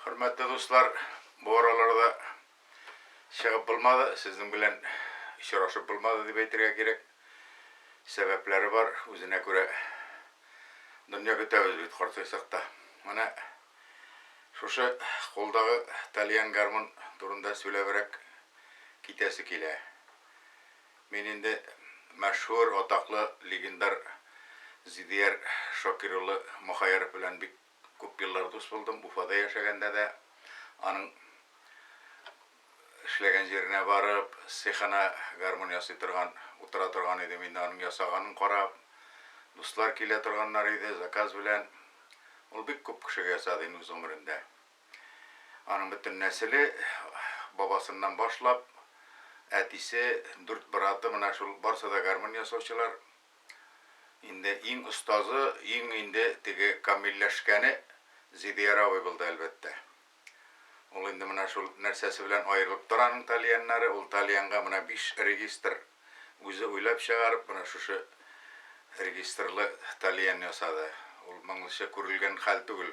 Хөрмәтле дуслар, бу араларда чыгып булмады, сезнең белән очрашып булмады дип әйтергә кирәк. Сәбәпләре бар, үзенә күрә дөнья көтәбез бит картайсак та. Менә шушы кулдагы тальян гармун турында сөйләбрәк китәсе килә. Мин инде мәшһүр, атаклы, легендар Зидияр Шакир улы Мохаяров белән бик күп еллар дус булдым. Уфада яшәгәндә дә аның эшләгән җиренә барып, цехына гармун ясый торган, утыра торган идем инде, аның ясаганын карап. Дуслар килә торганнар иде, заказ белән. Ул бик күп кешегә ясады инде үз гомерендә. Аның бөтен нәселе, бабасыннан башлап, әтисе, дүрт браты, менә шул барысы да гармун ясаучылар. Инде иң остазы, иң инде теге камилләшкәне Зидияр абый булды, әлбәттә. Ул инде менә шул нәрсәсе белән аерылып тора аның тальяннары, ул тальянга менә биш регистр үзе уйлап чыгарып, менә шушы регистрлы тальян ясады. Ул моңлыча күрелгән хәл түгел.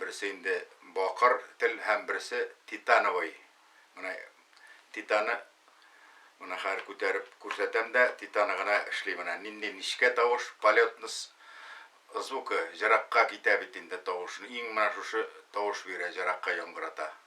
Берсе инде бакыр тел һәм берсе титановый. Менә титаны менә хәзер күтәреп күрсәтәм дә, титаны гына эшли менә. Нинди нечкә тавыш, полетность звукы җыракка китә бит инде тавышны. Иң менә шушы тавыш бирә, җыракка яңгырата.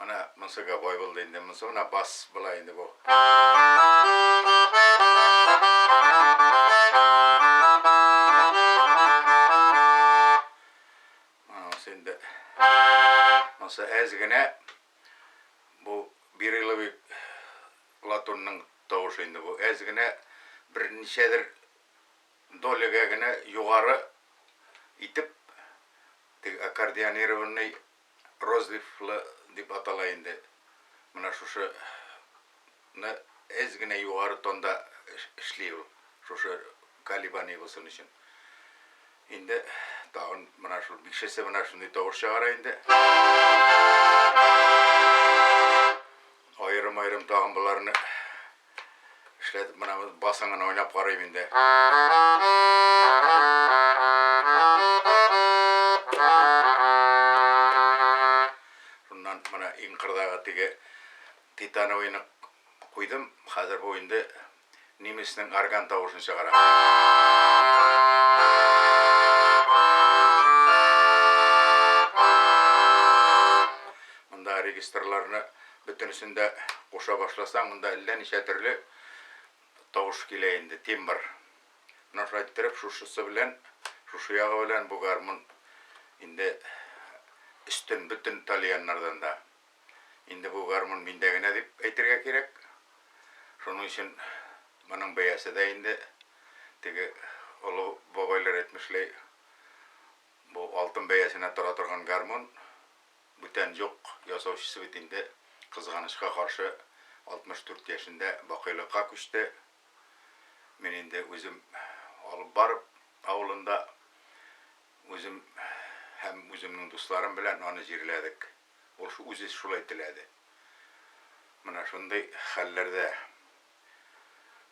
Менә монсы гобой булды инде, монсы менә бас була инде бу. Монсы инде монсы әз генә бу бириловый латунның тавышы инде бу. Әз генә берничәдер долягә генә югары итеп аккордеонированный Розлив-лы дип атала инде менә шушы ны әз генә югары тонда эшли ул шушы колебание булсын өчен инде тагын менә шул бишесе менә шундый тавыш чыгара инде аерым-аерым тагын боларны Эшләтеп менә басын гына уйнап карыйм инде. Шуннан менә иң кырдагы теге титановыйны куйдым. Хәзер бу инде немецнең орган тавышын чыгара. Монда регистрларны Бөтенесен дә куша башласаң, монда әллә ничә төрле тавыш килә инде, тимбр. Менә шулай иттереп, шушысы белән, шушы ягы белән бу гармун инде өстен бөтен тальяннардан да. Инде бу гармун миндә генә дип әйтергә кирәк. Шуның өчен моның бәясе дә инде теге олы бабайлар әйтмешләй, бу алтын бәясенә тора торган гармун. Бүтән юк ясаучысы бит инде, кызганычка каршы, 64 яшендә бакыйлыкка күчте. Мин инде үзем алып барып, авылында үзем һәм үземнең дусларым белән аны җирләдек. Ул шу үзе шулай теләде. Менә шундый хәлләрдә.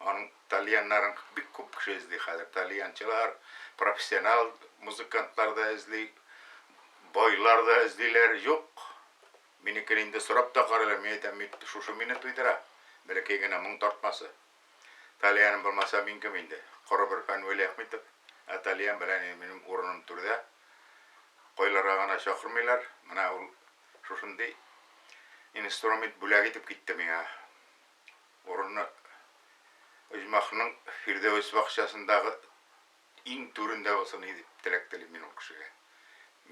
Аның тальяннарын бик күп кеше эзли хәзер. Тальянчылар, профессионал музыкантлар да эзли, байлар да эзлиләр. Юк, минекен инде сорап та карыйлар. Мин әйтәм, бит шушы мине туйдыра. Бәләкәй генә моң тартмасы. Тальяным булмаса, мин кем инде? Коры бер фән Вәлиәхмитов. Ә тальян белән инде минем урыным түрдә. Кайларга гына чакырмыйлар. Менә ул шушындый инструмент бүләк итеп китте миңа. Урыны оҗмахның Фирдәвес бакчасындагы иң түрендә булсын иде дип теләк телим мин ул кешегә.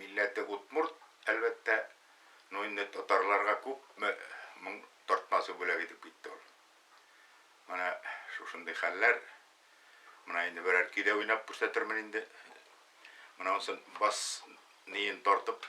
Милләте удмурт, әлбәттә, но инде татарларга күпме моң тартмасы бүләк итеп китте ул. Менә шушындый хәлләр. Менә инде берәр көй дә уйнап күрсәтермен инде. Менә онсын бас ниен тартып